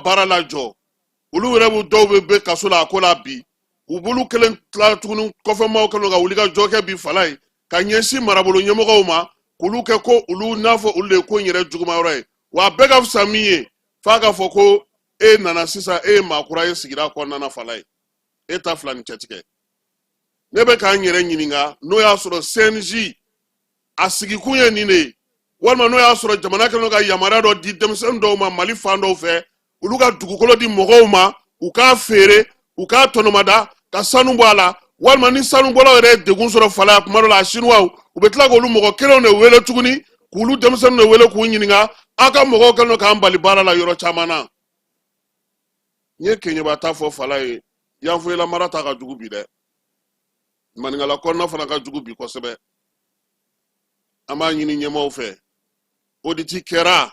baara lajɔ olu yɛrɛ b'u dɔw bɛ bɛ kaso la a ko la bi u b'olu kelen tila tuguni kɔfɛmaaw kɛlen ka wuli ka jɔ kɛ bi fala ye ka ɲɛsin marabolo ɲɛmɔgɔw ma k'olu kɛ ko olu n'a fɔ olu de ye ko in yɛrɛ juguma yɔrɔ ye wa bɛɛ ka fisa min ye f'a ka fɔ ko e nana sisan e ye maakura ye sigida kɔnɔna na fala ye e ta fila ni cɛtigɛ ne bɛ k'an yɛrɛ ɲininka n'o y'a sɔrɔ cnj a sigikun ye nin de ye walima n'o y'a sɔrɔ jamana kɛlen don ka yamaruya dɔ di denmisɛnnin dɔw ma mali fan dɔw fɛ olu ka dugukolo di mɔgɔw ma u k'a feere u k'a tɔnɔmada ka sanu bɔ a la walima ni sanubɔlaw yɛrɛ ye degun sɔrɔ fala ya kuma dɔ la a sinuwaw u bɛ tila k'olu mɔgɔ kelenw de wele tuguni k'olu denmisɛnninw de wele k'u ɲininka aw ka mɔgɔw kɛlen don k'an bali baara la yɔrɔ caman na n ye keɲɛba ta fɔ fala ye yanfoyila mara ta ka jugu bi dɛ maninkala kɔnɔna fana ka jugu bi kosɛbɛ an b'a ɲini ɲɛmaaw fɛ oditi kɛra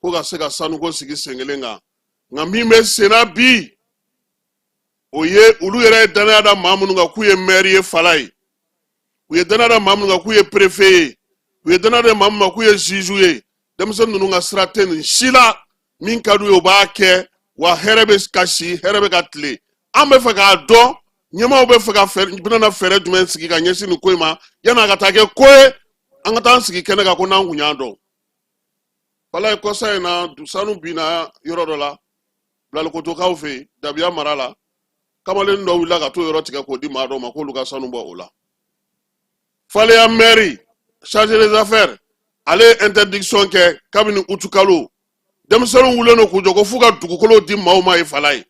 ko ka se ka sanuko sigi sen kelen kan nka min bɛ senna bi o ye olu yɛrɛ ye dannaya da maa minnu kan k'u ye mɛri ye fala ye u ye dannaya da maa minnu kan k'u ye perefe ye u ye dannaya da maa minnu kan k'u ye zizu ye denmisɛnnin ninnu ka sira tɛ nin si la min ka d'u ye u b'a kɛ wa hɛrɛ bɛ ka si hɛrɛ bɛ ka tile an b'a fɛ k'a dɔn ɲɛmaaw bɛ fɛ ka bɛna fɛɛrɛ jumɛn sigi ka ɲɛsin nin ko in ma yan'a ka taa kɛ ko ye an ka taa an sigi kɛnɛ kan ko n'an kun y'a dɔn fala ye kɔsa in na sanu binna yɔrɔ dɔ la bilalikotokaw fɛ yen dabiya mara la kamalen dɔ wulila ka t'o yɔrɔ tigɛ k'o di maa dɔ ma k'olu ka sanu bɔ o la faleya mɛri chargé des affaires ale ye interdiction kɛ kabini utukalo denmisɛnninw wulilen don k'u jɔ ko f'u ka dugukolo di maaw ma ye fala ye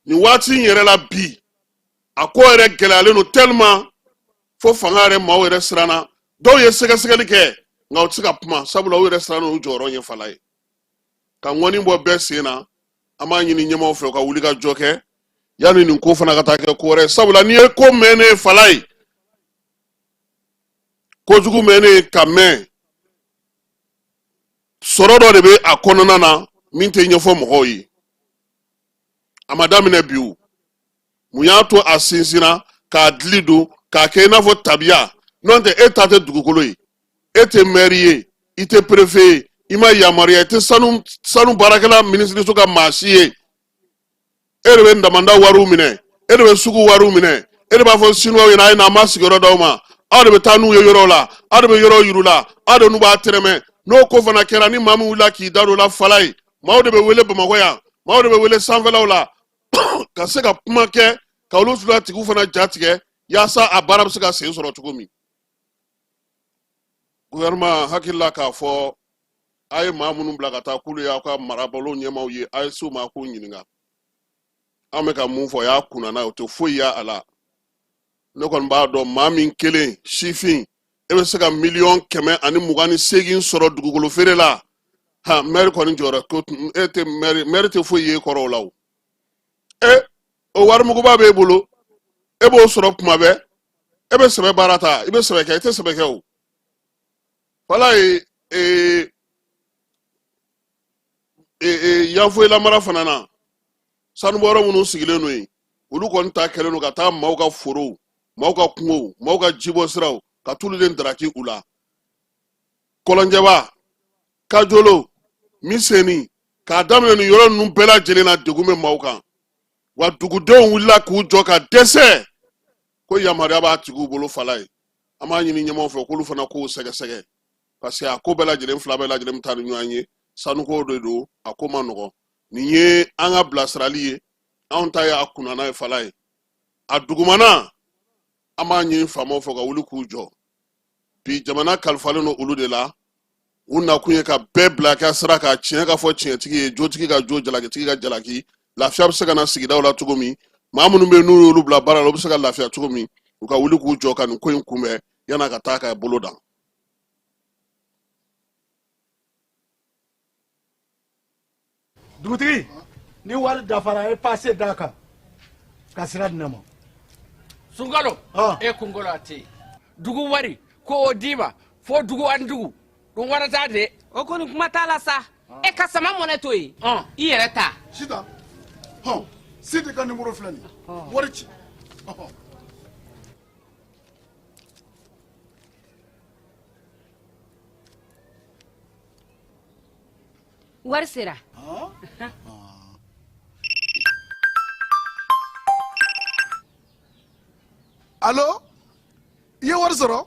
nin waati in yɛrɛ la bi a ko yɛrɛ gɛlɛyalen don tellement fo fanga yɛrɛ maaw yɛrɛ siranna dɔw ye sɛgɛsɛgɛli kɛ nka u tɛ se ka kuma sabula u yɛrɛ siranna u jɔyɔrɔ ɲɛ fala ye ka ŋɔni bɔ bɛɛ sen na an b'a ɲini ɲɛmaaw fɛ u ka wuli ka jɔ kɛ yanni nin ko fana ka taa kɛ ko wɛrɛ sabula n'i ye ko mɛnnen fala ye kojugu mɛnnen ka mɛn sɔrɔ dɔ de bɛ a kɔnɔna na min tɛ ɲɛfɔ mɔgɔw ye a ma daminɛ bi o mun y'a to a sinsinna k'a dili don k'a kɛ i n'a fɔ tabiya n'o tɛ e ta tɛ dugukolo ye e tɛ mɛri ye i tɛ perefe ye i ma yamaruya i tɛ sanu sanu baarakɛla minisiriso ka maa si ye e de bɛ damanda wariw minɛ e de bɛ sugu wariw minɛ e de b'a fɔ sinuwaw ɲɛna a ye na an b'a sigiyɔrɔ d'aw ma aw de bɛ taa n'u ye yɔrɔw la aw de bɛ yɔrɔw yir'u la aw de n'u b'a tɛrɛmɛ n'o ko fana kɛra ni maa min wulila k'i da don o la fala ye maaw de bɛ wele bamakɔ yan maaw de bɛ wele sanfɛlaw la ka se ka kuma kɛ ka olu fila tigiw fana ja tigɛ yaasa a baara bɛ se ka sen sɔrɔ cogo min gouvernement hakili la k'a fɔ a ye maa minnu bila ka taa k'olu y'aw ka marabolo ɲɛmaaw ye a ye s'u ma k'u ɲininka an bɛ ka mun fɔ o y'a kunnana ye o tɛ foyi y'a la ne kɔni b'a dɔn maa min kelen sifin e bɛ se ka miliyɔn kɛmɛ ani mugan ni seegin sɔrɔ dugukolo feere la ha mɛri kɔni jɔra ko e tɛ mɛri mɛri tɛ foyi ye kɔrɔ o la o e o warimuguba b'e bolo e b'o sɔrɔ kuma bɛɛ e bɛ sɛbɛ baara ta i bɛ sɛbɛ kɛ i tɛ sɛbɛ kɛ o walayi ee ee yanfoyila mara fana na sanubɔyɔrɔ minnu sigilen don yen olu kɔni ta kɛlen don ka taa maaw ka forow maaw ka kungow maaw ka jibɔ siraw ka t'olu de daraki u la kɔlɔnjɛba kajolo miseni k'a daminɛ nin yɔrɔ ninnu bɛɛ lajɛlen na degun bɛ maaw kan wa dugudenw wulila k'u jɔ ka dɛsɛ ko yamaruya b'a tigiw bolo falaye an b'a ɲini ɲɛmaaw fɛ k'olu fana k'o sɛgɛsɛgɛ parce que a ko bɛɛ lajɛlen fila bɛɛ lajɛlen bɛ taa ni ɲɔgɔn ye sanuko de don a ko man nɔgɔn nin ye an ka bilasirali ye anw ta y'a kunnana ye falaye a dugumana an b'a ɲini faamaw fɛ u ka wuli k'u jɔ bi jamana kalifalen don olu de la u nakun ye ka bɛɛ bila ka sira kan tiɲɛ ka fɔ tiɲɛtigi ye jotigi ka jo jalakitigi ka jalaki lafiya bɛ se ka na sigidaw la cogo min maa minnu bɛ n'u y'olu bila baara la u bɛ se ka lafiya cogo min u ka wuli k'u jɔ ka nin ko in kunbɛn yan'a ka taa ka bolo dan dugutigi ni wari dafara e pase d'a kan ka sira di ne ma sunkalo Ah. e kunkolo a tɛ yen dugu wari ko o d'i ma fo dugu ani dugu dun wɛrɛ t'a de o kɔni kuma t'a la sa e ka sama mɔnɛ to yen Ɔn. i yɛrɛ ta sita hɔn sidi ka nimoro filɛ nin ye wari ci Ɔhɔ. wari sera alo i ye wari sɔrɔ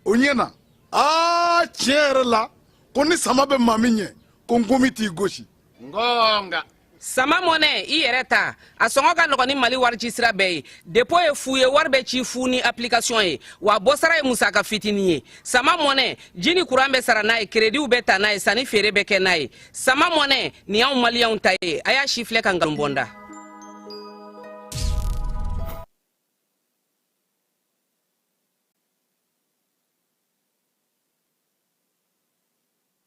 o ɲɛna aa tiɲɛ yɛrɛ la ko ni sama bɛ maa min ɲɛ ko nkomi t'i gosi nka sama mɔnɛ i yɛrɛ ta a sɔngɔ ka nɔgɔn ni mali warici sira bɛɛ ye depo ye fu ye wari bɛ ci fu ni application ye wa bɔsara ye musaka fitinin ye sama mɔnɛ ji ni kuran bɛ sara n'a ye kerediw bɛ ta n'a ye sanni feere bɛ kɛ n'a ye sama mɔnɛ nin y'anw maliyɛnw ta ye a y'a sifilɛ ka nkalon bɔ n da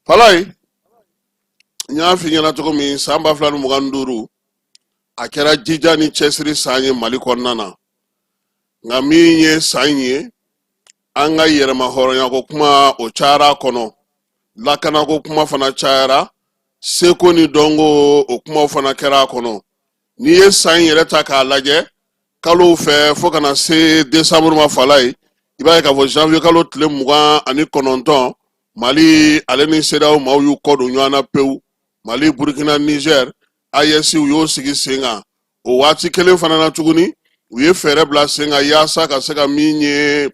falayi n y'a f'i ɲɛna cogo min san ba fila ni mugan ni duuru a kɛra jija ni cɛsiri san ye mali kɔnɔna na nka min ye san in ye an ka yɛrɛma hɔrɔnyako kuma o cayara a kɔnɔ lakanako kuma fana cayara seko ni dɔnko o kumaw fana kɛra a kɔnɔ n'i ye san in yɛrɛ ta k'a lajɛ kalo fɛ fo ka na se desanburu ma falayi i b'a ye k'a fɔ janvier kalo tile mugan ani kɔnɔntɔn mali ale ni CEDEAO maaw y'u kɔ don ɲɔgɔn na pewu mali burkina niger AES u y'o sigi sen kan o waati kelen fana na tuguni u ye fɛɛrɛ bila sen kan yaasa ka se ka min ye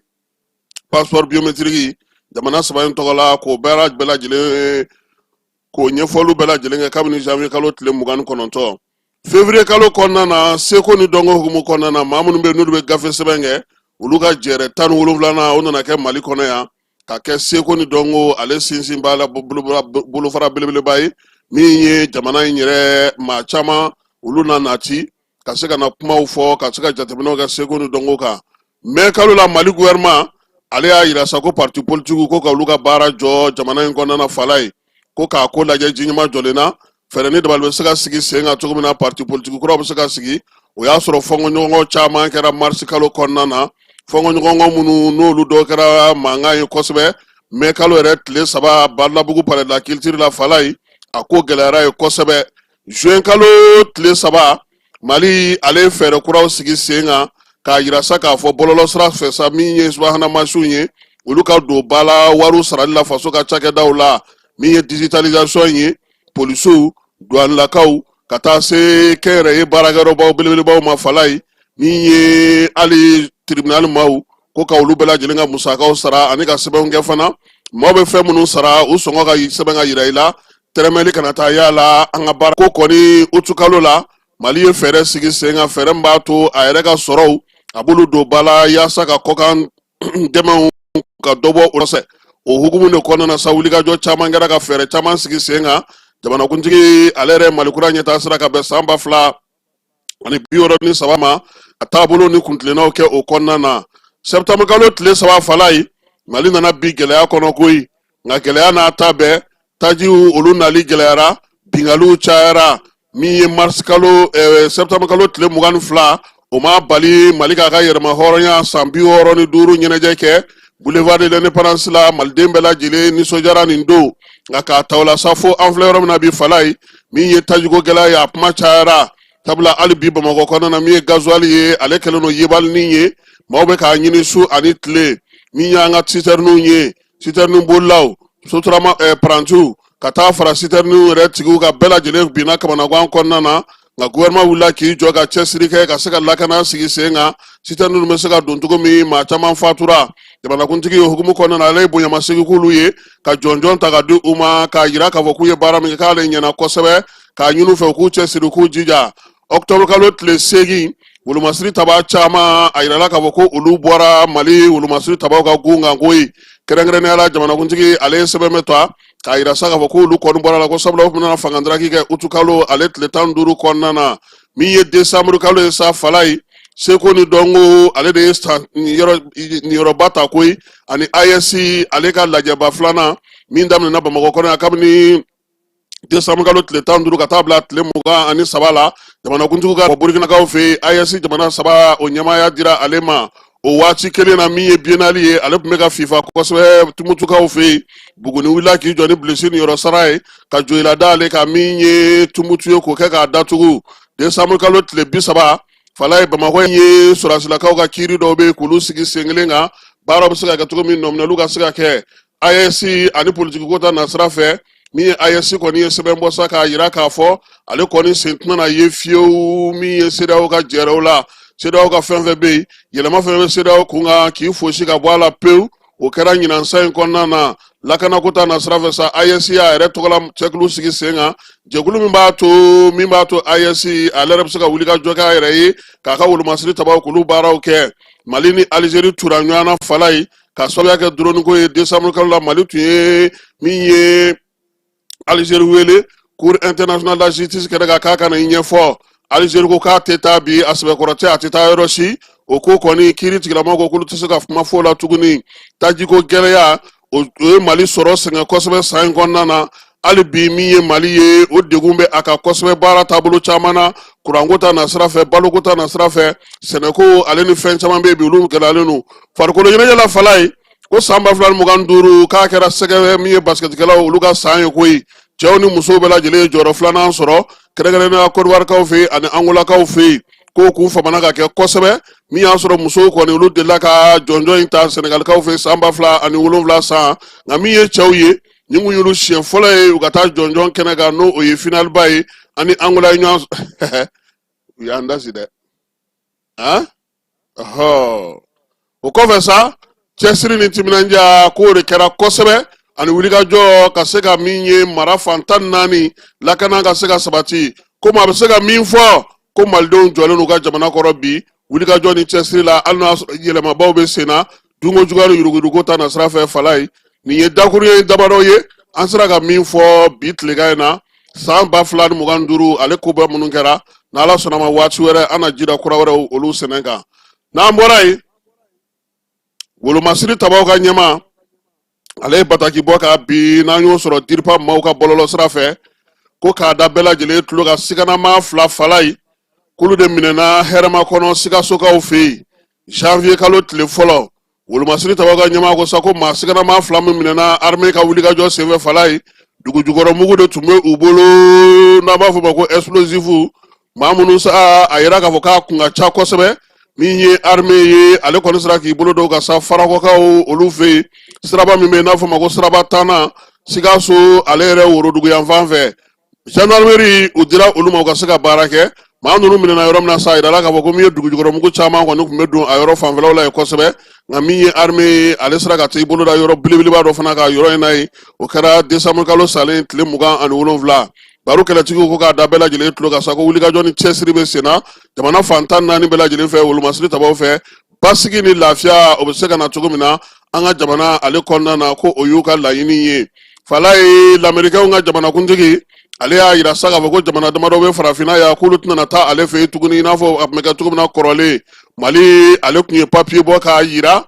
passeport biometriki jamana saba in tɔgɔ la k'o bɛɛ bɛɛ lajɛlen k'o ɲɛfɔliw bɛɛ lajɛlen kɛ kabini janvier kalo tile mugan ni kɔnɔntɔn fevrier kalo kɔnɔna na seko ni dɔnko hukumu kɔnɔna na maa minnu bɛ n'olu bɛ gafe sɛbɛn kɛ olu ka jɛɛrɛ tan ni wolonwulanan o nana kɛ mali kɔnɔ yan ka kɛ seko ni dɔnko ale sinsinba la bolofara belebeleba ye min ye jamana in yɛrɛ maa caman olu na nati ka se ka na kumaw fɔ ka se ka jateminɛw kɛ seko ni dɔnko kan mɛ kalo la mali gouvernement ale y'a yira sa ko parti politikiw ko ka olu ka baara jɔ jamana in kɔnɔna falayi ko k'a ko lajɛ ji ɲɛmajɔlen na fɛɛrɛ ni dabali bɛ se ka sigi sen kan cogo min na parti politiki kuraw bɛ se ka sigi o y'a sɔrɔ fɔnkɔɲɔgɔnkɔ caman kɛra marisi kalo kɔnɔna na fɔnkɔɲɔgɔnkɔ minnu n'olu dɔ kɛra mankan ye kosɛbɛ mɛ kalo yɛrɛ tile saba badalabugu palais de la culture la falayi a ko gɛlɛyara ye kosɛbɛ Juin kalo tile saba Mali ale ye fɛɛrɛ kuraw sigi sen kan k'a yira sa k'a fɔ bɔlɔlɔsira fɛ sa min ye subahana mansinw ye olu ka don ba la wariw sarali la faso ka cakɛdaw la min ye digitalisation ye polisiw duwanilakaw ka taa se kɛnyɛrɛye baarakɛyɔrɔbaw belebelebaw ma Falayi min ye hali tribunal maaw ko ka olu bɛɛ lajɛlen ka musakaw sara ani ka sɛbɛnw kɛ fana maa bɛ fɛn minnu sara u sɔngɔ ka sɛbɛn ka yira i la tɛrɛmɛli kana taa y'a la an ka baara ko kɔni utukalo la mali ye fɛɛrɛ sigi sen kan fɛɛrɛ min b'a to a yɛrɛ ka sɔrɔw a b'olu don ba la yaasa ka kɔkan dɛmɛw ka dɔ bɔ o fɛ o hukumu de kɔnɔna na sa wulikajɔ caman kɛra ka fɛɛrɛ caman sigi sen kan jamanakuntigi ale yɛrɛ malikura ɲɛtaa sira ka bɛn san ba fila ani bi wɔɔrɔ ni saba ma a taabolo ni kuntilennaw kɛ o kɔnɔna na septembre kalo tile saba falayi mali nana bin gɛlɛya kɔnɔ koyi nka gɛlɛya n'a ta bɛɛ tajiw olu nali gɛlɛyara binkaliw cayara min ye marisikalo ɛɛ septembre kalo tile mugan ni fila o m'a bali mali k'a ka yɛrɛma hɔrɔnya san bi wɔɔrɔ ni duuru ɲɛnajɛ kɛ boulevard de l'indépendance la maliden bɛɛ lajɛlen nisɔndiyara nin don nka k'a ta o la sa fo an filɛ yɔrɔ min na bi falayi min ye tajiko gɛlɛya ye a kuma cayara sabula hali bi bamakɔ kɔnɔna na min ye gazuwali ye ale kɛlen don yebalinin ye maaw bɛ k'a ɲini su ani tile min y'an ka sitɛriniw ye sitɛrini bolilaw sotarama eh, parantiw ka taa fara sitɛriniw yɛrɛ tigiw ka bɛɛ lajɛlen binna kamanagan kɔnɔna na nka guvɛrɛnman wulila k'i jɔ ka cɛsiri kɛ ka se ka lakana sigi sen kan sitɛriniw bɛ se ka don cogo min maa caman fatura jamanakuntigi ye hukumu kɔnɔna na ale ye bonyamasegin k'olu ye ka jɔnjɔn ta ka di u ma k'a yira k'a fɔ k'u ye baara min kɛ k'ale ɲɛna kosɛbɛ k'a ɲini u fɛ u k'u cɛsiri k'u jija ɔkutɔburu kalo tile seegin wolomasiri taba caman a yirala k'a fɔ ko olu bɔra mali wolomasiri tabaw ka gun kan koyi kɛrɛnkɛrɛnnenya la jamanakuntigi ale ye sɛbɛn bɛ ta k'a yira sa k'a fɔ k'olu kɔni bɔra a la ko sabula u tun bɛna fangandaraki kɛ utukalo ale tile tan ni duuru kɔnɔna na min ye desanburu kalo ye sa falayi seko ni dɔnko ale de ye san niyɔrɔba ta koyi ani AES ale ka lajɛba filanan min daminɛna bamakɔ kɔnɔ yan kabini desanburu kalo tile tan duuru ka taa bila tile mugan ani saba la jamanakuntigi ka burkinakaw fɛ AES jamana saba o ɲɛmaaya dira ale ma o waati kelen na min ye biennale ye ale tun bɛ ka fifa kosɛbɛ tumutukaw fɛ yen buguni wulila k'i jɔ ni bilisi niyɔrɔ sara ye ka joyila da ale kan min ye tumutu ye k'o kɛ k'a datugu desanburu kalo tile bi saba falayi bamakɔ in ye sɔrɔdasilakaw ka kiiri dɔw bɛ yen k'olu sigi sen kelen kan baaraw bɛ se ka kɛ cogo min nɔminɛliw ka se ka kɛ AES ani politiki ko ta nasira fɛ min ye AES kɔni ye sɛbɛn bɔ sa k'a yira k'a fɔ ale kɔni sen tɛna na ye fiyewu min ye CEDEAO ka jɛɛrɛw la CEDEAO ka fɛn fɛn bɛ yen yɛlɛma fɛn bɛ CEDEAO kun kan k'i fosi ka bɔ a la pewu o kɛra ɲinan san in kɔnɔna na lakanako ta nasira fɛ sa AES y'a yɛrɛ tɔgɔla cɛkulu sigi sen kan jɛkulu min b'a to min b'a to AES ale yɛrɛ bɛ se ka wuli ka jɔ k'a yɛrɛ ye k'a ka wolomasiri tabaw k'olu baaraw kɛ mali ni alizeri tura ɲɔgɔn na falayi ka sababuya kɛ droniko ye décembre kalo la mali tun ye min ye alizeri wele cour internationale de la justice kɛnɛ kan k'a ka na i ɲɛfɔ alizeri ko k'a tɛ taa bi a sɛbɛkɔrɔ tɛ a tɛ taa yɔrɔ si o ko kɔni kiiritigɛlamaaw ko k'olu tɛ se ka kuma fɔ o la tuguni tajiko gɛlɛya o ye mali sɔrɔ sɛgɛn kosɛbɛ san in kɔnɔna na hali bi min ye mali ye o degun bɛ a kan kosɛbɛ baara taabolo caman na kuranko ta na sira fɛ baloko ta na sira fɛ sɛnɛko ale ni fɛn caman bɛ yen bi olu gɛlɛyalen don farikolo ɲɛnajɛ la falayi ko san ba fila ni mugan duuru k'a kɛra sɛgɛ min ye basikɛtikɛlaw olu ka san ye koyi cɛw ni musow bɛɛ lajɛlen ye jɔyɔrɔ filanan sɔrɔ kɛrɛnkɛrɛnnenya kɔdiwarikaw fɛ yen ani angolakaw fɛ yen ko k'u famana k'a kɛ kosɛbɛ min y'a sɔrɔ musow kɔni olu delila ka jɔnjɔn in ta sɛnɛgalikaw fɛ san ba fila ani wolonwula san nka min ye cɛw ye nin kun y'olu siɲɛ fɔlɔ ye u ka taa jɔnjɔn kɛnɛ kan n'o o ye finaliba ye ani angola ye ɲɔgɔn u y'an dasi dɛ han o kɔfɛ sa cɛsiri ni timinandiya k'o de kɛra kosɛbɛ ani wulikajɔ ka se ka min ye mara fan tan naani lakana ka se ka sabati komi a bɛ se ka min fɔ ko malidenw jɔlen n'u ka jamana kɔrɔ bi wulikajɔ ni cɛsiri la hali n'a sɔrɔ yɛlɛmabaw bɛ sen na dunko juguya ni yuruguyuruguko ta nasira fɛ fala ye nin ye dakuruɲɛ damadɔ ye an sera ka min fɔ bi tilekan in na san ba fila ni mugan duuru ale koba minnu kɛra n'ala sɔnna a ma waati wɛrɛ an na jira kura wɛrɛw olu sɛnɛ kan n'an bɔra yen wolomasiri tabaw ka ɲɛmaa ale ye bataki bɔ ka bi n'an y'o sɔrɔ diripa maaw ka bɔlɔlɔ sira fɛ ko k'a da bɛɛ lajɛlen tulo kan siganamaa fila fala ye k'olu de minɛna hɛrɛmakɔnɔ sikasokaw fɛ yen janvier kalo tile fɔlɔ wolomasiri tabaw ka ɲɛmaa ko sa ko maa siganamaa fila min minɛna armée ka wulikajɔ senfɛ fala ye dugujukɔrɔmugu de tun bɛ u bolo n'an b'a fɔ o ma ko explosif maa minnu sa a yira k'a fɔ k'a kun ka ca kosɛbɛ min ye arme ye ale kɔni sera k'i bolo da u kan sa farakɔkaw olu fɛ yen siraba min bɛ yen n'a fɔ ma ko siraba tannan sikaso ale yɛrɛ worodugu yanfan fɛ jandarmeri u dira olu ma u ka se ka baara kɛ maa ninnu minɛna yɔrɔ min na sa a yirala k'a fɔ ko min ye dugujukɔrɔmugu caman kɔni tun bɛ don a yɔrɔ fanfɛlaw la yen kosɛbɛ nka min ye arme ye ale sera ka t'i bolo da yɔrɔ belebeleba dɔ fana kan yɔrɔ in na yen o kɛra desanburukalo salen tile mugan ani wolonwula baro kɛlɛtigiw ko k'a da bɛɛ lajɛlen tulo kan sa ko wulikajɔ ni cɛsiri bɛ senna jamana fan tan naani bɛɛ lajɛlen fɛ wolomasiri tabaw fɛ basigi ni lafiya o bɛ se ka na cogo min na an ka jamana ale kɔnɔna na ko o y'u ka laɲini ye fala ye lamerikɛnw ka jamanakuntigi ale y'a yira sa k'a fɔ ko jamana damadɔ bɛ farafinna yan k'olu tɛna taa ale fɛ yen tuguni i n'a fɔ a tun bɛ kɛ cogo min na kɔrɔlen mali ale tun ye papiye bɔ k'a yira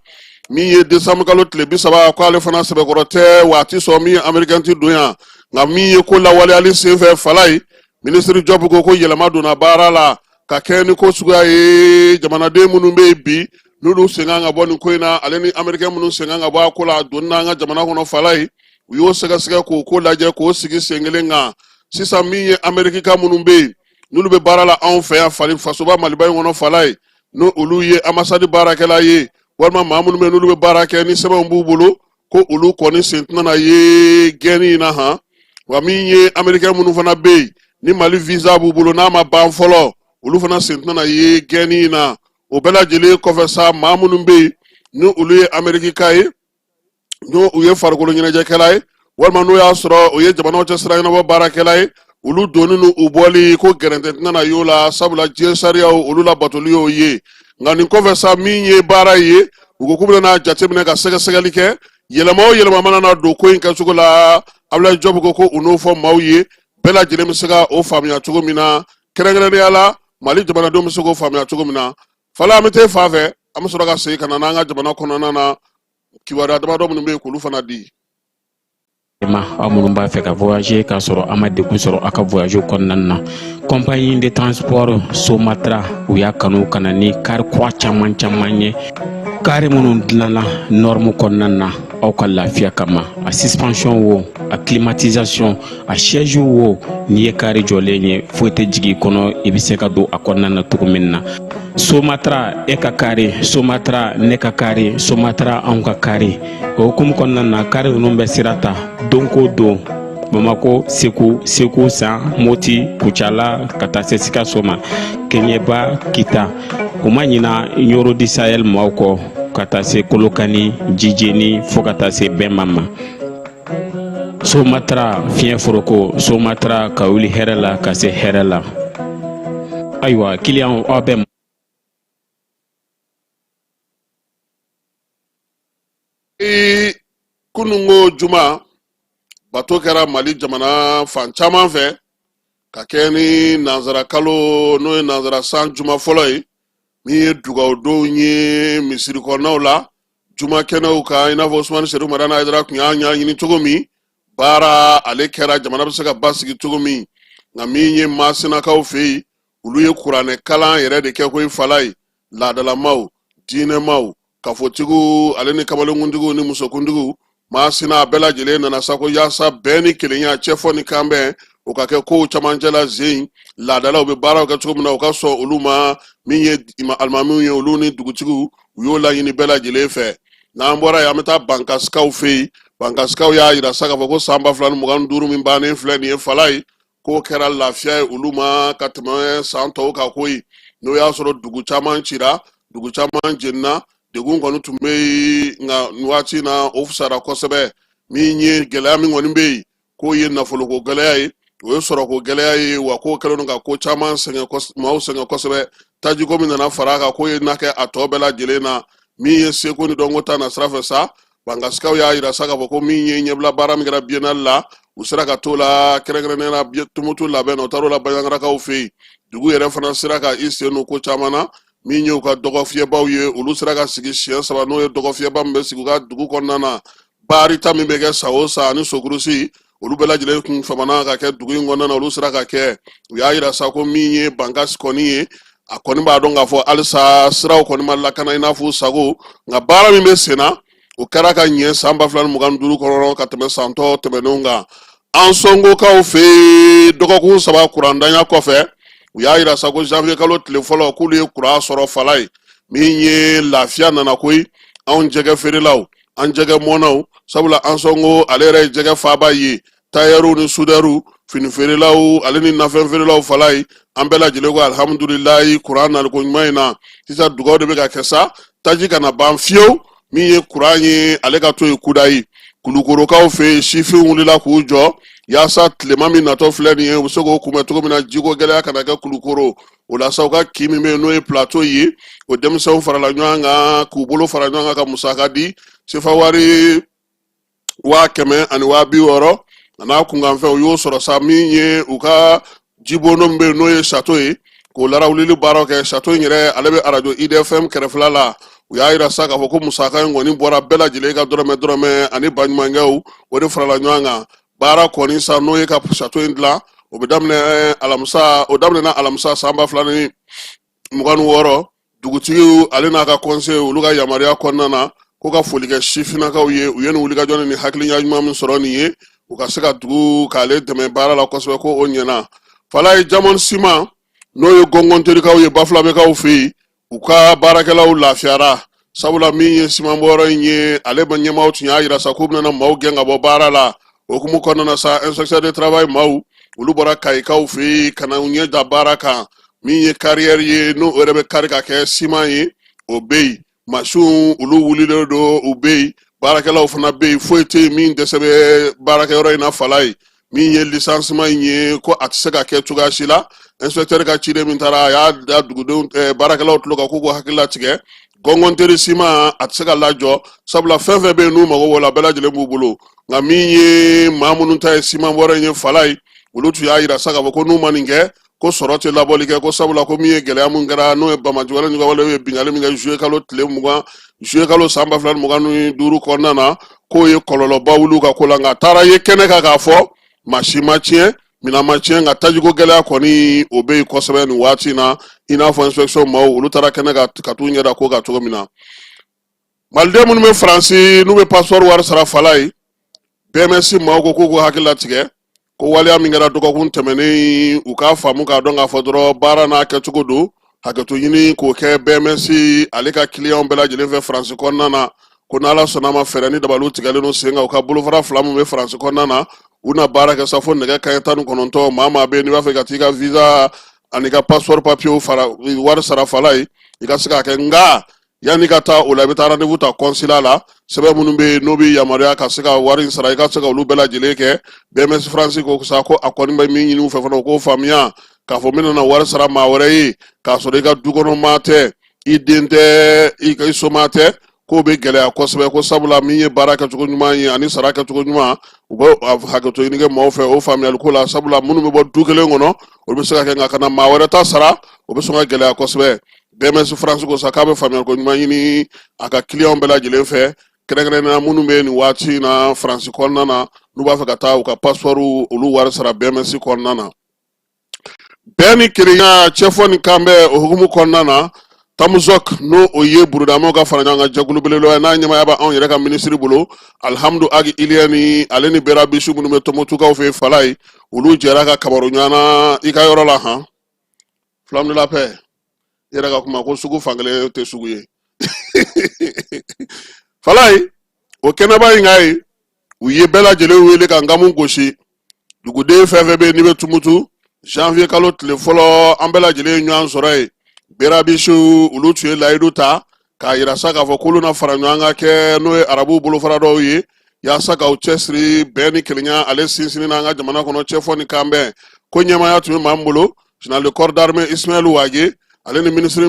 min ye desanburukalo tile bi saba k'ale fana sɛbɛkɔrɔ tɛ waati sɔn min ye amerikɛn ti don yan nka min ye ko lawaleyali senfɛ fala ye minisiri jɔpu ko ko yɛlɛma donna baara la ka kɛɲɛ ni ko suguya ye jamanaden minnu bɛ yen bi n'olu sen kan ka bɔ nin ko in na ale ni amerikɛn minnu sen kan ka bɔ a ko la a donni n'an ka jamana kɔnɔ fala ye u y'o sɛgɛsɛgɛ k'o ko lajɛ k'o sigi sen kelen kan sisan min ye amerikika minnu bɛ yen n'olu bɛ baara la anw fɛ yan fasoba maliba in kɔnɔ fala ye n'o olu ye anbasadi baarakɛla ye walima maa minnu bɛ yen n'olu bɛ baara kɛ ni sɛbɛnw b'u bolo ko olu kɔni sen tɛna na ye gɛnni in na han wa min ye amerikɛn minnu fana bɛ yen ni mali visa b'u bolo n'a ma ban fɔlɔ olu fana sen tɛna na ye gɛnni in na o bɛɛ lajɛlen kɔfɛ sa maa minnu bɛ yen ni olu ye amerikika ye n'o u ye farikolo ɲɛnajɛkɛla ye walima n'o y'a sɔrɔ u ye jamanaw cɛ sira ɲɛnabɔ baarakɛla ye olu donni ni u bɔli ko gɛrɛntɛ tɛna na y'o la sabula diɲɛ sariyaw olu labatoli y'o ye nka nin kɔfɛ sa min ye baara ye u ko k'u bɛna jateminɛ ka sɛgɛsɛgɛli kɛ yɛlɛma o yɛlɛma mana na don ko in kɛcogo la abulayi jɔbu ko ko u n'o fɔ maaw ye bɛɛ lajɛlen bɛ se ka o faamuya cogo min na kɛrɛnkɛrɛnnenya la mali jamanadenw bɛ se k'o faamuya cogo min na fala an bɛ taa fan fɛ an bɛ sɔrɔ ka segin ka na n'an ka jamana kɔnɔna na kibaruya damadɔ minnu bɛ yen k'olu fana di ma aw minnu b'a fɛ ka voyager k'a sɔrɔ a ma degun sɔrɔ a ka voyage kɔnɔna na compagnie de transport somatra u y'a kanu ka na ni kari kura caman caman ye kari minnu dilanna norme kɔnɔna na aw ka lafiya kama a suspension wo a climatisation a siège wo n'i ye kari jɔlen ye foyi tɛ jigi i kɔnɔ i bɛ se ka don a kɔnɔna na cogo min na somatra e ka kari somatra ne ka kari somatra anw ka kari o hukumu kɔnɔna na kari ninnu bɛ sira ta don ko don bamakɔ segu segu san moti kucala ka taa se sikaso ma keɲɛba kita u ma ɲina ɲɔrɔ di sayɛl maaw kɔ ka taa se kolokani jijeni fɔɔ ka taa se bɛma ma somatra fiɲɛ foroko somatra ka wuli hɛrɛ la ka se hɛrɛ la ayiwa kiliyanw aw bɛ ee kununko juma bato kɛra mali jamana fan caman fɛ ka kɛ ni nanzara kalo n'o ye nanzara san juma fɔlɔ ye min ye dugawudonw ye misiri kɔnɔnaw la juma kɛnɛw kan i n'a fɔ usumani serifu madani ayidara tun y'a ɲɛɲini cogo min baara ale kɛra jamana bɛ se ka basigi cogo min nka min ye masinakaw fɛ yen olu ye kuranɛ kalan yɛrɛ de kɛ koyi fala ye laadalamaw diinɛmaw kafotigiw olu ni kamalenkuntigiw ni musokuntigiw masina a bɛɛ lajɛlen nana sa ko yaasa bɛn ni kelenya cɛfɔ ni kanbɛn o ka kɛ kow camancɛ la zen laadalaw bɛ baaraw kɛ cogo min na u ka sɔn olu ma min ye alimamiw ye olu ni dugutigiw u y'o laɲini bɛɛ lajɛlen fɛ n'an bɔra yen an bɛ taa bankasikaw fɛ yen bankasikaw y'a yira sa k'a fɔ ko san ba fila ni mugan ni duuru min bannen filɛ nin ye fala ye k'o kɛra lafiya ye olu ma ka tɛmɛ san tɔw kan koyi n'o y'a sɔrɔ dugu caman cira dugu caman jeninna degun kɔni tun bɛ yen nka nin waati na o fusara kosɛbɛ min ye gɛlɛya min kɔni bɛ yen k'o ye nafoloko gɛlɛya ye o ye sɔrɔko gɛlɛya ye wa k'o kɛlen don ka ko caman sɛgɛn maaw sɛgɛn kosɛbɛ tajiko min nana fara a kan k'o ye na kɛ a tɔ bɛɛ lajɛlen na min ye seko ni dɔnko ta nasira fɛ sa bankasikaw y'a yira sa k'a fɔ ko min ye ɲɛbila baara min kɛra biennale la u sera ka t'o la kɛrɛnkɛrɛnnenya la tumutu labɛn na u taar'o la baɲangarakaw fɛ yen dugu yɛrɛ fana sera ka i sen don ko caman na min y'u ka dɔgɔfiyɛbaw ye olu sera ka sigi siɲɛ saba n'o ye dɔgɔfiyɛba min bɛ sigi u ka dugu kɔnɔna na baarita min bɛ kɛ san o san ani sokurusi olu bɛɛ lajɛlen kun famana ka kɛ dugu in kɔnɔna na olu sera ka kɛ u y'a yira sa ko min ye bankasi kɔni ye a kɔni b'a dɔn k'a fɔ halisa siraw kɔni ma lakana i n'a fɔ sago nka baara min bɛ sen na o kɛra ka ɲɛ san ba fila ni mugan ni duuru kɔnɔ ka tɛmɛ san tɔ tɛmɛnenw kan ansɔngokaw fɛ yen dɔgɔkun saba kurandanya kɔfɛ u y'a yira sa ko janvier kalo tile fɔlɔ k'olu ye kuran sɔrɔ fala ye min ye lafiya nana koyi anw jɛgɛ feerelaw an jɛgɛ mɔnnaw sabula ansɔngo ale yɛrɛ ye jɛgɛ faaba ye tayɛriw ni sudɛriw fini feerelaw ale ni nafɛn feerelaw fala ye an bɛɛ lajɛlen ko alihamudulilayi kuran naliko ɲuman in na sisan dugaw de bɛ ka kɛ sa taji kana ban fiyewu min ye kuran ye ale ka to yen kudayi kulukorokaw fɛ yen sifin wulila k'u jɔ yaasa tilema min natɔ filɛ nin ye u bɛ se k'o kunbɛn cogo min na jiko gɛlɛya kana kɛ kulukoro o la sa u ka kin min bɛ yen n'o ye plateau ye o denmisɛnw farala ɲɔgɔn kan k'u bolo fara ɲɔgɔn kan ka musaka di sefa wari waa kɛmɛ ani waa bi wɔɔrɔ a n'a kunkanfɛn u y'o sɔrɔ sa min ye u ka jibono min bɛ yen n'o ye sato ye k'o larawulili baaraw kɛ sato in yɛrɛ ale bɛ arajo idfm kɛrɛfɛla la u y'a yira sa k'a fɔ ko musaka in kɔni bɔra bɛɛ lajɛlen ka dɔrɔmɛ dɔrɔmɛ ani baɲumankɛw o de farala ɲɔgɔn kan baara kɔni sa n'o ye ka sato in dilan o bɛ daminɛ eh, o daminɛna alamisa san ba fila ni mugan ni wɔɔrɔ dugutigiw ale n'a ka kɔnse olu ka yamaruya kɔnɔna na ko ka foli kɛ sifinnakaw ye u ye nin wulikajɔ ni nin hakiliya ɲuman min sɔrɔ nin ye u ka se ka dugu k'ale dɛmɛ baara la kosɛbɛ ko o ɲɛna fala ye jamɔn siman n'o ye gɔngɔnterikaw ye bafulabɛkaw fɛ yen u ka baarakɛlaw lafiyara sabula min ye simanbɔyɔrɔ in ye ale ba ɲɛmaaw tun y'a yira sa k'u bɛna maaw gɛn ka bɔ baara la o hukumu kɔnɔna sa inspecteur de travail maaw olu bɔra kayikaw fɛ yen ka na u ɲɛ da baara kan min ye kariyɛri ye n'o yɛrɛ bɛ kari ka kɛ siman ye o bɛ yen masinw olu wulilen don u bɛ yen baarakɛlaw fana bɛ yen foyi tɛ yen min dɛsɛ bɛ baarakɛyɔrɔ in na fala ye min ye lisansima in ye ko a tɛ se ka kɛ cogoya si la inspecteur ka ciden min taara a y'a da dugudenw eh, baarakɛlaw tulo kan k'u k'u hakili latigɛ gɔngɔnteri siman a tɛ se ka lajɔ sabula fɛn fɛn bɛ yen n'u mago b'o la bɛɛ lajɛlen b'u bolo nka min ye maa minnu ta ye simanbɔyɔrɔ in ye fala ye olu tun y'a yira sa k'a fɔ ko n'u ma nin kɛ ko sɔrɔ tɛ labɔli kɛ ko sabula ko min ye gɛlɛya min kɛra n'o ye banbaanci wale ɲɔgɔnwale ye binkanni min kɛ zuye kalo tile mugan zuye kalo san ba fila ni mugan ni duuru kɔnɔna na k'o ye kɔlɔlɔba wuli u ka ko la nka a taara ye kɛnɛ kan k'a fɔ masin ma tiɲɛ minan ma tiɲɛ nka tajiko gɛlɛya kɔni o bɛ yen kosɛbɛ nin waati in na i n'a fɔ inspection maaw olu taara kɛnɛ kan ka t'u ɲɛda ko kan cogo min na maliden minnu bɛ faransi n'u bɛ passeport wari sara fala ye BMS maaw ko k'u k'u hakili latigɛ ko waleya min kɛra dɔgɔkun tɛmɛnen u k'a faamu k'a dɔn k'a fɔ dɔrɔn baara n'a kɛcogo don hakɛto ɲini k'o kɛ BMS ale ka kiliyanw bɛɛ lajɛlen fɛ faransi kɔnɔna na ko n'ala sɔnna ma fɛɛrɛ ni dabaliw tigɛlen don sen kan u ka bolofara fila min bɛ faransi kɔnɔna na u na baara kɛ sa fo nɛgɛ kanɲɛ tan ni kɔnɔntɔn maa maa bɛ yen n'i b'a fɛ ka t'i ka visa ani ka passeport papiyew fara wari sara fala ye i ka se k'a kɛ nka yanni ka taa o la i bɛ taa rendez-vous ta kɔnsila la sɛbɛn minnu bɛ yen n'o bɛ yamaruya ka se ka wari in sara i ka se ka olu bɛɛ lajɛlen kɛ BMS France ko sa ko a kɔni bɛ min ɲini u fɛ fana u k'o faamuya k'a fɔ min nana wari sara maa wɛrɛ ye k'a sɔrɔ i ka du kɔnɔ maa tɛ i den tɛ i somaa tɛ k'o bɛ gɛlɛya kosɛbɛ ko sabula min ye baara kɛcogo ɲuman ye ani sara kɛcogo ɲuman u bɛ hakɛto ɲini kɛ maaw fɛ o faamuyali ko la sabula minnu bɛ bɔ du kelen kɔnɔ olu bɛ se k'a kɛ nka ka na maa wɛrɛ ta sara o bɛ sɔn ka gɛlɛya kosɛbɛ BMS France ko sa k'a bɛ faamuyali ko ɲuman ɲini a ka kiliyanw bɛɛ lajɛlen fɛ kɛrɛnkɛrɛnnenya minnu bɛ nin waati in na faransi kɔnɔna na n'u b'a fɛ ka taa u ka passeportw olu wari sara BMS kɔnɔna na bɛn ni kelenya cɛfɔ ni kanbɛn o hukumu kɔnɔna na tamuzɔk n'o o ye burudamaw ka fara ɲɔgɔn kan jɛkulu belebeleba ye n'a ɲɛmaaya bɛ anw yɛrɛ ka minisiri bolo alihamudu agi iliyɛni ale ni berabisiw minnu bɛ tumutukaw fɛ fala ye olu jɛra ka kabaro ɲɔgɔnna i ka yɔrɔ la han Flamme de la paix i yɛrɛ ka kuma ko sugu fankelen tɛ sugu ye fala ye o kɛnɛba in kan yen u ye bɛɛ lajɛlen wele ka nkamu gosi duguden fɛn fɛn bɛ n'i bɛ tumutu janvier kalo tile fɔlɔ an bɛɛ lajɛlen ye ɲɔgɔn sɔrɔ yen berabisiw olu tun ye layidu ta k'a yira sa k'a fɔ k'olu na fara ɲɔgɔn kan kɛ n'o ye arabuw bolofara dɔw ye yaasa k'aw cɛsiri bɛn ni kelenya ale sinsinni n'an ka jamana kɔnɔ cɛfɔ ni kanbɛn ko ɲɛmaaya tun bɛ maa min bolo général de corps d'armée Ismaël Wagué ale ni minisiri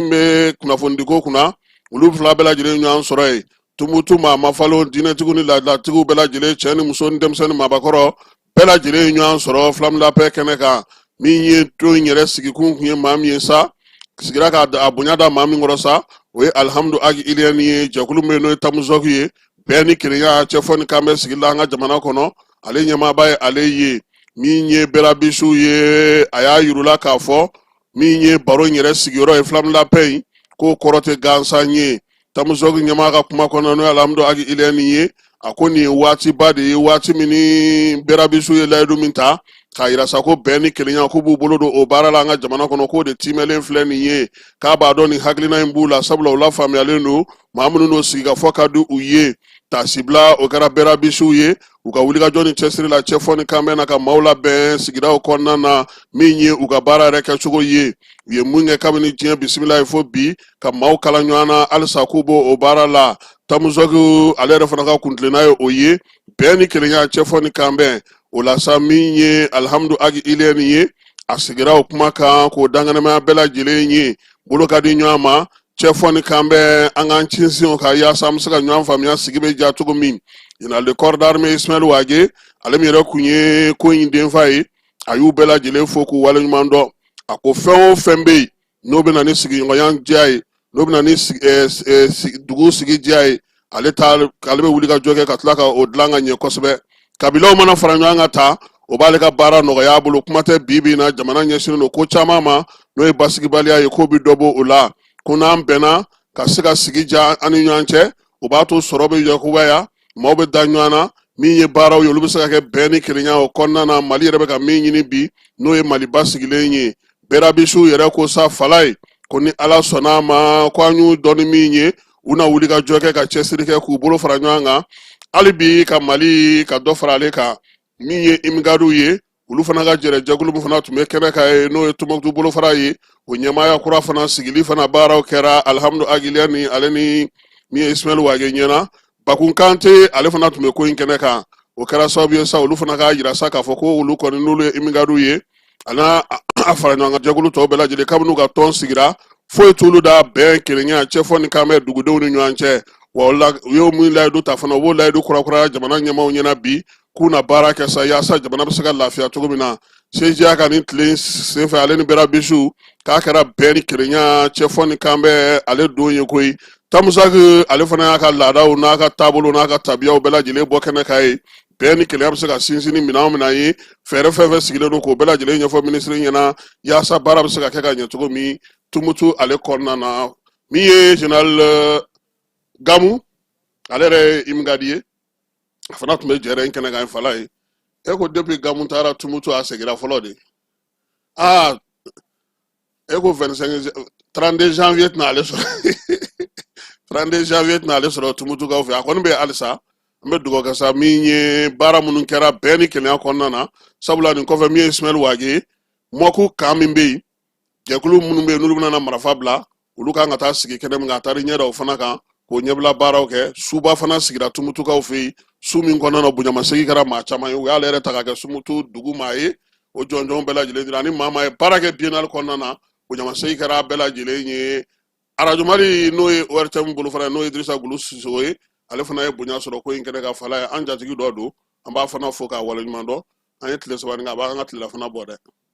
min bɛ kunnafonidiko kunna olu fila bɛɛ lajɛlen ye ɲɔgɔn sɔrɔ yen tumutu maa mafalen diinɛtigiw ni laadalatigiw bɛɛ lajɛlen cɛ ni muso ni denmisɛn ni maabakɔrɔ bɛɛ lajɛlen ye ɲɔgɔn sɔrɔ Flamme de la paix kɛnɛ kan min ye tɔn in yɛrɛ sigikun kun ye maa min ye sa sigira ka a bonya da maa min kɔrɔ sa o ye alihamudu agi iliyɛni ye jɛkulu min n'o ye tamuzɔk ye bɛn ni kelenya cɛfɔ ni kanbɛn sigi la an ka jamana kɔnɔ ale ɲɛmaaba ye ale ye min ye berabisiw ye a y'a yir'u la k'a fɔ min ye baro in yɛrɛ sigiyɔrɔ ye Flamme de la paix in k'o kɔrɔ tɛ gansan ye tamuzɔk ɲɛmaa ka kuma kɔnɔ n'o ye alihamudu agi iliyɛni ye a ko nin ye waatiba de ye waati min ni berabisiw ye layidu min ta k'a yira sa ko bɛn ni kelenya k'u b'u bolo don o baara la an ka jamana kɔnɔ k'o de tiimɛlen filɛ nin ye k'a b'a dɔn nin hakilina in b'u la sabula u lafaamuyalen don maa minnu n'o sigikafɔ ka di u ye taasibila o kɛra bɛrabisiw ye u ka wulikajɔ ni cɛsiri la cɛfɔ ni kanbɛn na ka maaw labɛn sigidaw kɔnɔna na min ye u ka baara yɛrɛ kɛcogo ye u ye mun kɛ kabini diɲɛ bisimila ye fo bi ka maaw kala ɲɔgɔn na halisa k'u b'o o baara la tamuzɔkiw ale yɛrɛ fana ka kuntilenna ye o ye bɛn ni kelenya cɛfɔ ni kanbɛn o la sa min ye alihamudu agi iliyɛni ye a sigira o kuma kan k'o dankɛnɛmaya bɛɛ lajɛlen ye bolo ka di ɲɔgɔn ma cɛfɔ ni kanbɛn an k'an cinsin o kan yaasa an bɛ se ka ɲɔgɔn faamuya sigi bɛ diya cogo min général de corps d'armée Ismaël Wage ale min yɛrɛ tun ye ko in denfa ye a y'u bɛɛ lajɛlen fo k'u waleɲuman dɔn a ko fɛn o fɛn bɛ yen n'o bɛ na ni sigiɲɔgɔnya diya ye n'o bɛ na ni dugu sigi diya ye ale bɛ wuli ka jɔ kɛ ka tila ka o dilan ka ɲɛ kosɛbɛ kabilaw mana fara ɲɔgɔn kan tan o b'ale ka baara nɔgɔya a bolo kuma tɛ bi bi in na jamana ɲɛsinnen don ko caman ma n'o ye basigibaliya ye k'o bɛ dɔ bɔ o la ko n'an bɛnna ka se ka sigi diya an ni ɲɔgɔn cɛ o b'a to sɔrɔ bɛ yakubaya maaw bɛ da ɲɔgɔn na min ye baaraw ye olu bɛ se ka kɛ bɛn ni kelenya o kɔnɔna na mali yɛrɛ bɛ ka min ɲini bi n'o ye mali basigilen ye bɛrabisiw yɛrɛ ko sa falaye ko ni ala sɔnna a ma ko an y'u dɔn ni min ye u na wuli ka jɔ kɛ ka cɛsiri kɛ k'u bolo fara ɲɔgɔn kan hali bi ka mali ka dɔ fara ale kan min ye imigadiw ye olu fana ka jɛrɛ jɛkulu min fana tun bɛ kɛnɛ kan yen n'o ye Tombouctou bolofara ye o ɲɛmaaya kura fana sigili fana baaraw kɛra alihamudu agi iliyɛni ale ni min ye ismail wage ɲɛna bakun kante ale fana tun bɛ ko in kɛnɛ kan o kɛra sababu ye sa olu fana k'a yira sa k'a fɔ ko olu kɔni n'olu ye imigadiw ye a n'a a fara ɲɔgɔn kan jɛkulu tɔw bɛɛ lajɛlen kabini u ka tɔn sigira foyi t'olu da bɛn kelenya cɛfɔ ni kanbɛn dugudenw ni ɲɔgɔn cɛ wa o la u y'o min layidu ta fana u b'o layidu kurakuraya jamana ɲɛmaaw ɲɛna bi k'u na baara kɛ sa yaasa jamana bɛ se ka lafiya cogo min na sejiya ka nin tile senfɛ ale ni bɛrabisiw k'a kɛra bɛn ni kelenya cɛfɔ ni kanbɛn ale don ye koyi tamuzɔki ale fana y'a ka laadaw n'a ka taabolo n'a ka tabiyaw bɛɛ lajɛlen bɔ kɛnɛ kan yen bɛn ni kelenya bɛ se ka sinsin ni minɛn minnu ye fɛɛrɛ fɛn o fɛn sigilen don k'o bɛɛ lajɛlen ɲɛfɔ minisiri ɲɛna yaasa baara bɛ se ka kɛ ka ɲɛ cogo min tumutu ale kɔnɔna na min ye général euh, gamu ale yɛrɛ ye imigadi ye a fana tun bɛ jɛrɛ in kɛnɛ kan falaye e ko depuis gamu taara tumutu a segira fɔlɔ de aa e ko 32 janvier tɛna ale sɔrɔ 32 janvier tɛna ale sɔrɔ tumutukaw fɛ a kɔni bɛ halisa n bɛ dugawu kɛ sa min ye baara minnu kɛra bɛn ni kelenya kɔnɔna na sabula nin kɔfɛ min ye ismail wage ye mako kan min bɛ yen jɛkulu minnu bɛ yen n'olu bɛna marafa bila olu kan ka taa sigi kɛnɛ min kan a taara ɲɛ da o fana kan k'o ɲɛbila baaraw kɛ suba fana sigira tumutukaw fɛ yen su min kɔnɔna na bonyamasegin kɛra maa caman ye u y'ale yɛrɛ ta ka kɛ tumutu dugu maa ye o jɔnjɔnw bɛɛ lajɛlen dira ani maa maa ye baara kɛ biennale kɔnɔna na bonyamasegin kɛra bɛɛ lajɛlen ye arajo mali n'o ye ortm bolo fana n'o ye dirisa gulu sisogo ye ale fana ye bonya sɔrɔ ko in kɛnɛ kan falaye an jatigi dɔ don an b'a fana fo k'a waleɲuman dɔn an ye tile saba nin kɛ a b'an ka tilelafana bɔ dɛ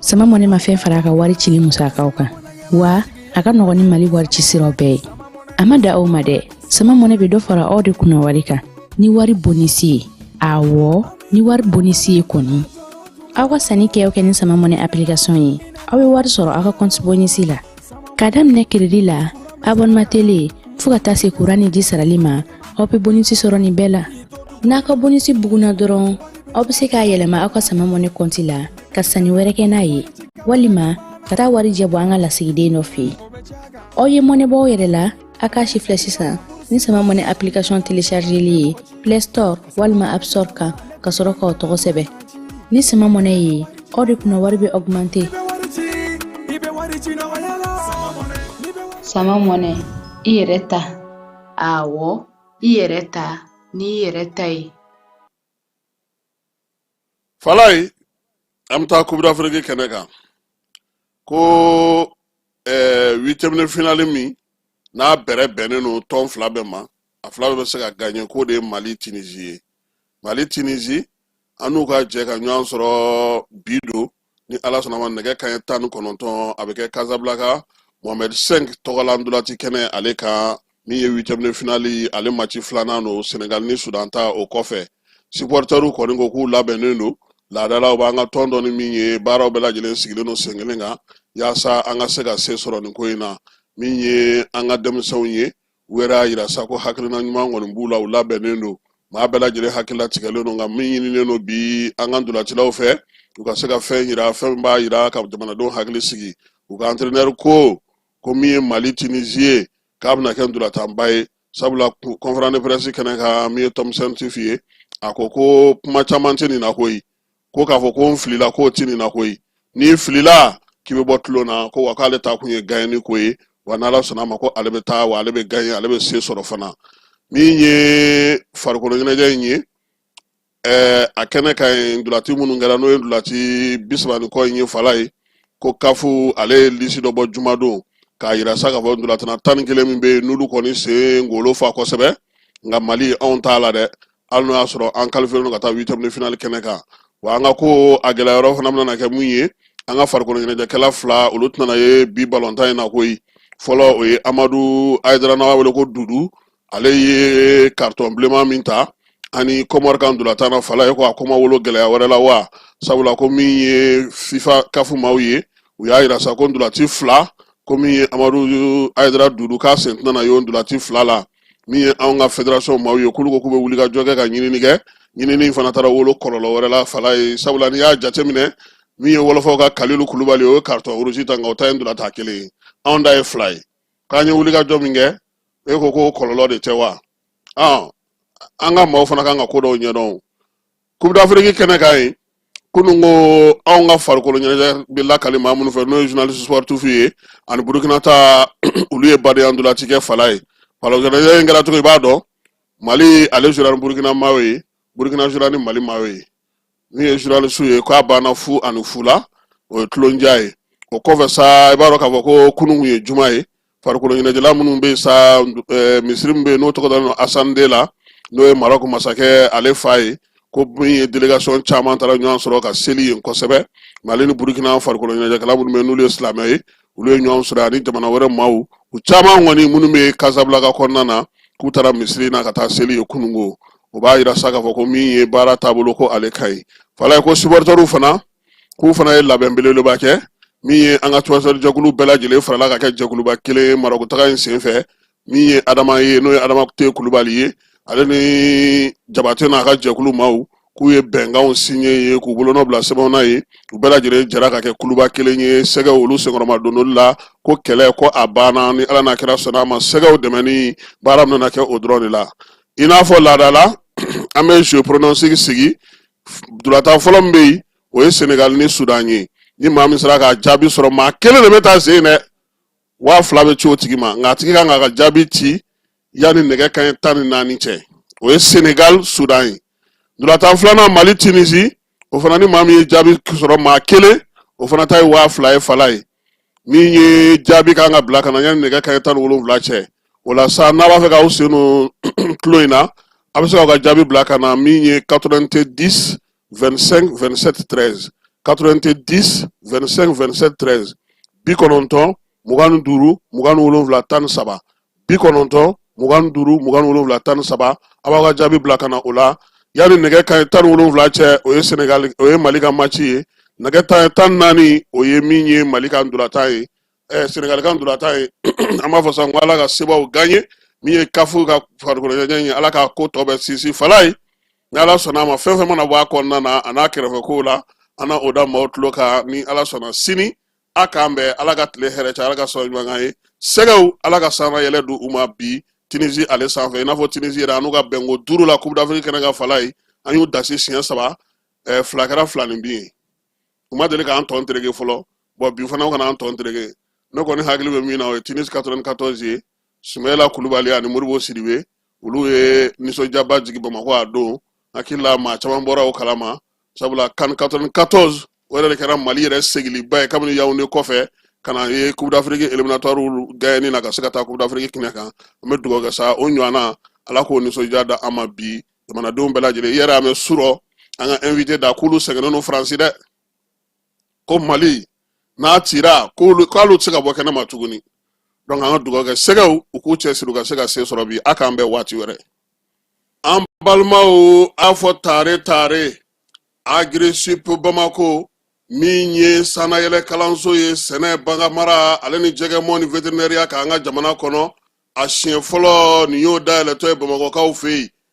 sama mɔne ma fɛn fara a ka wari cili musakaw kan wa a ka nɔgɔn ni mali wari ci siraw bɛɛ ye a ma dan o ma dɛ sama mɔne bɛ dɔ fara aw de kunna wari kan ni wari bonisi ye awɔ ni wari bonisi ye kɔni aw ka sanni kɛ kɛ ni sama mɔne application ye aw bɛ wari sɔrɔ aw ka kɔnti bonisi la ka daminɛ kiridi la abonema tele fo ka taa se kuran ni ji sarali ma aw bɛ bonisi sɔrɔ nin bɛɛ la n'a ka bonisi bugunna dɔrɔn aw bɛ se k'a yɛlɛma aw ka sama mɔne kɔnti la ka sanni wɛrɛ kɛ n'a ye walima ka taa wari jɛ bɔ an ka lasigiden dɔ fɛ yen aw ye mɔnɛ bɔ aw yɛrɛ la a k'a sifilɛ sisan ni sama mɔnɛ application telechargeli ye play store walima app store kan ka sɔrɔ k'aw tɔgɔ sɛbɛn ni sama mɔnɛ ye aw de kunna wari bɛ augmente sama mɔnɛ i yɛrɛ ta awɔ i yɛrɛ ta n'i yɛrɛ ta ye falaye an bɛ taa coupe d'afrique kɛnɛ kan ko huitième de finali min n'a bɛrɛ bɛnnen don tɔn fila bɛɛ ma a fila bɛɛ bɛ se ka gaɲɛ k'o de ye mali tinizi ye mali tinizi an n'u ka jɛ ka ɲɔgɔn sɔrɔ bi don ni ala sɔnna ma nɛgɛ kanɲɛ tan ni kɔnɔntɔn a bɛ kɛ kazabilanka mohamɛd sɛnk tɔgɔla ndolati kɛnɛ ale kan min ye huitième de finali ale maci filanan don senegal ni sudan ta o kɔfɛ supportɛriw kɔni ko k'u labɛnnen don laada la u b'an ka tɔn dɔn ni min ye baaraw bɛɛ lajɛlen sigilen don sen kelen kan yaasa an ka se ka se sɔrɔ nin ko in na min ye an ka denmisɛnw ye u yɛrɛ y'a yira sa ko hakilina ɲuman kɔni b'u la u labɛnnen don maa bɛɛ lajɛlen hakilila tigɛlen don nka min ɲininen don bi an ka ntolacilaw fɛ u ka se ka fɛn yira fɛn min b'a yira ka jamanadenw hakili sigi u ka entraîneur ko ko min ye mali tunisi ye k'a bɛna kɛ ntolatanba ye sabula conférence de presse kɛnɛ kan min ye tom saintfiet ye a ko ko kuma caman tɛ nin na koyi ko k'a fɔ ko n filila k'o tɛ nin na koyi n'i filila k'i bɛ bɔ tulon na ko wa k'ale taakun ye ganye ko ye wa n'ala sɔnna ma ko ale bɛ taa wa ale bɛ ganye ale bɛ se sɔrɔ fana min ye farikolo ɲɛnajɛ in ye ɛɛ a kɛnɛ kan ndulati minnu kɛra n'o ye ndulati bi saba ni kɔ in ye falaye ko kafu ale ye lisi dɔ bɔ jumadon k'a yira sa k'a fɔ ndulatina tan ni kelen min bɛ yen n'olu kɔni sen ngolo fa kosɛbɛ nka mali anw t'a la dɛ hali n'o y'a sɔrɔ an kalifiyelen don ka taa huitième de finale kɛnɛ kan wa an ka ko a gɛlɛya yɔrɔ fana bɛna kɛ mun ye an ka farikolo ɲɛnajɛkɛla fila olu tɛna ye bi balontan in na koyi fɔlɔ o ye amadu ayidara n'a b'a wele ko dudu ale ye karitɔn bilenman min ta an ni kɔmɔri ka ntolatan na fala ye ko a ko ma wolo gɛlɛya wɛrɛ la wa sabula ko min ye fifa kafu maaw ye u y'a yira sa ko ntolaci fila ko min ye amadu ayidara dudu k'a sen tɛna na ye o ntolaci fila la min ye anw ka federasɔn maaw ye k'olu ko k'u bɛ wuli ka jɔ kɛ ka ɲinini kɛ ɲinini fana taara wolo kɔlɔlɔ wɛrɛ la fala ye sabula n'i y'a jateminɛ min ye wɔlɔfɔw ka kalilu kulubali o ye karitɔn rouge ta nka o ta ye ntolatan kelen ye anw ta ye fila ye k'an ye wuli ka jɔ min kɛ e ko k'o kɔlɔlɔ de tɛ wa an ka maaw fana kan ka ko dɔw ɲɛdɔn coupe d'afrique kɛnɛ kan yen kunun ko anw ka farikolo ɲɛnajɛ bɛ lakali maa minnu fɛ n'o ye journaliste sportif ye ani burukina ta olu ye badenya ntolaci kɛ fala ye farikolo ɲɛnajɛ in kɛra cogo i b'a dɔn mali ale jouera ni burukina maaw ye burukina jouera ni mali maaw ye min ye journaliste ye k'a banna fu ani fu la o ye tulondiya ye o kɔfɛ sa i b'a dɔn k'a fɔ ko kunun kun ye juma ye farikolo ɲɛnajɛla minnu bɛ yen sa eh, misiri min bɛ yen n'o tɔgɔ dalen don hassan deux la n'o ye marɔku masakɛ ale fa ye ko min ye délégation caman taara ɲɔgɔn sɔrɔ ka seli yen kosɛbɛ mali ni burukina farikolo ɲɛnajɛkɛla minnu bɛ yen n'olu ye silamɛ ye olu ye ɲɔgɔn sɔrɔ ani jamana wɛrɛ maaw u caman kɔni minnu bɛ kasabilaka kɔnɔna na k'u taara misiri na ka taa seli yen kunun ko o b'a yira sa k'a fɔ ko min ye baara taabolo ko ale ka ɲi fala ye ko supportɛriw fana k'u fana ye labɛn belebeleba kɛ min ye an ka tuwasɛrijɛkulu bɛɛ lajɛlen farala ka kɛ jɛkuluba kelen ye marɔkutaga in senfɛ min ye adama ye n'o ye adama te kulubali ye ale ni jabate n'a ka jɛkulu maaw k'u ye bɛnkanw siɲɛ ye k'u bolonɔ bila sɛbɛn na yen u bɛɛ lajɛlen jɛra ka kɛ kuluba kelen ye sɛgɛw olu senkɔrɔma dondoli la ko kɛlɛ ko a banna ni ala n'a kira sɔnna a ma sɛgɛw dɛmɛni baara min nana kɛ o dɔrɔn de la i n'a fɔ laadala an bɛ jeu pronostic sigi ntolatan fɔlɔ min bɛ yen o ye senegali ni sudan ye ni maa min sera ka jaabi sɔrɔ maa kelen de bɛ ta sen dɛ waa fila bɛ ci o tigi ma nka a tigi kan k'a ka jaabi ci yanni nɛgɛ kanɲɛ tan ni naani cɛ o ye senegali sudan ye ntolatan filanan mali tunisi o fana ni maa min ye jaabi sɔrɔ maa kelen o fana ta ye waa fila ye fala ye min ye jaabi kan ka bila ka na yanni nɛgɛ kanɲɛ tan ni wolonwula cɛ o la sa n'a b'a fɛ k'aw sen don tulon in na a bɛ se k'aw ka jaabi bila ka na min ye 90 25 27 13 90 25 27 13 bi kɔnɔntɔn mugan ni duuru mugan ni wolonwula tan ni saba bi kɔnɔntɔn mugan ni duuru mugan ni wolonwula tan ni saba a b'aw ka jaabi bila ka na o la yanni nɛgɛ kanɲɛ tan ni wolonwula cɛ o ye senegali o ye mali ka maci ye nɛgɛ kanɲɛ tan ni naani o ye min ye mali ka ntolatan ye ɛɛ senegali ka ntolatan ye an b'a fɔ sisan ko ala ka sebaw gaɲe min ye kafu ka farikolo ɲɛnajɛ ye ala ka ko tɔ bɛ sinsin fala ye ni ala sɔnna a ma fɛn fɛn mana bɔ a kɔnɔna na a n'a kɛrɛfɛ kow la an na o da maaw tulo kan ni ala sɔnna sini a k'an bɛn ala ka tile hɛrɛ caya ala ka sɔrɔ ɲuman k'an ye sɛgɛw ala ka sanayɛlɛ di u ma bi tinizi ale sanfɛ i n'a fɔ tinizi yɛrɛ an n'u ka bɛnko duuru la coupe d'afrique kɛnɛ kan fala ye an y'u dasi siɲɛ saba eh, fila kɛra filaninbin ye u ma deli k'an tɔn tereke fɔlɔ bɔn bi fana u kana an tɔn tereke ne kɔni hakili bɛ min na o ye tunis 94 ye sumayila kulubali ani modibo sidibe olu ye nisɔndiyaba jigi bamakɔ a don n hakili la maa caman bɔra o kalama sabula kan 94 o yɛrɛ de kɛra mali yɛrɛ segiliba ye kabini yawunde kɔfɛ ka na ye coupe d'afrique éliminatoire gagné na ka se ka taa coupe d'afrique kɛnɛ kan an bɛ dugawu kɛ sa o ɲɔgɔnna ala k'o nisɔndiya da an ma bi jamanadenw bɛɛ lajɛlen i yɛrɛ y'a mɛn surɔ an ka invité da k'olu sɛgɛnnen don faransi dɛ ko mali n'a cira k'olu tɛ se ka bɔ kɛnɛ ma tuguni donc an ka dugawu kɛ sɛgɛw u k'u cɛsiri u ka se ka se sɔrɔ bi a k'an bɛn waati wɛrɛ an balimaw a fɔ tare tare agri sup bamako min ye sanayɛlɛ kalanso ye sɛnɛ baganmara ale ni jɛgɛmɔ ni veterinɛriya kan an ka jamana kɔnɔ a siɲɛ fɔlɔ nin y'o dayɛlɛtɔ ye bamakɔkaw fɛ yen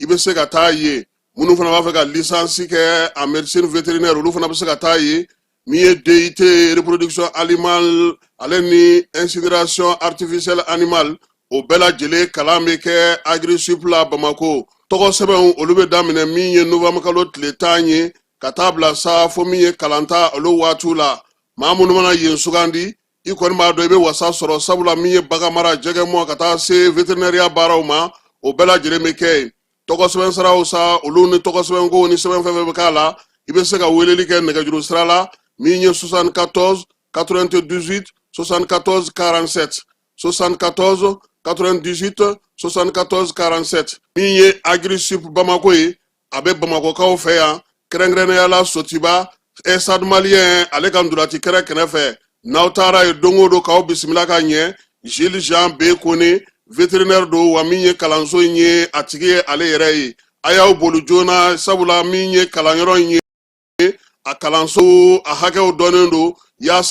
i bɛ se ka taa yen minnu fana b'a fɛ ka lisansi kɛ en médecine vétérinaire olu fana bɛ se ka taa yen min ye DUT reproduction animale ale ni insémination artificielle animale o bɛɛ lajɛlen kalan bɛ kɛ agri sup la Bamako tɔgɔ sɛbɛnw olu bɛ daminɛ min ye novembre kalo tile tan ye ka taa bila sa fo min ye kalanta olu waatiw la maa minnu mana yen sugandi i kɔni b'a dɔn i bɛ wasa sɔrɔ sabula min ye baganmara jɛgɛmɔ ka taa se veterinɛriya baaraw ma o bɛɛ lajɛlen bɛ kɛ yen tɔgɔ sɛbɛn siraw sa olu ni tɔgɔ sɛbɛn ko ni sɛbɛn fɛn fɛn bɛ k'a la i bɛ se ka weleli kɛ nɛgɛjuru sira la min ye 74 98 74 47 74 98 74 47 min ye agri sup bamako ye a bɛ bamakɔkaw fɛ yan kɛrɛnkɛrɛnnenyala sotuba stade malien ale ka ntolaci kɛnɛ kɛrɛfɛ n'aw taara yen don o don k'aw bisimila ka ɲɛ jules jean b kone veterinɛri don wa min ye kalanso in ye a tigi ye ale yɛrɛ ye a y'aw boli joona sabula min ye kalanyɔrɔ in ye a kalanso a hakɛw dɔnnen don yaasa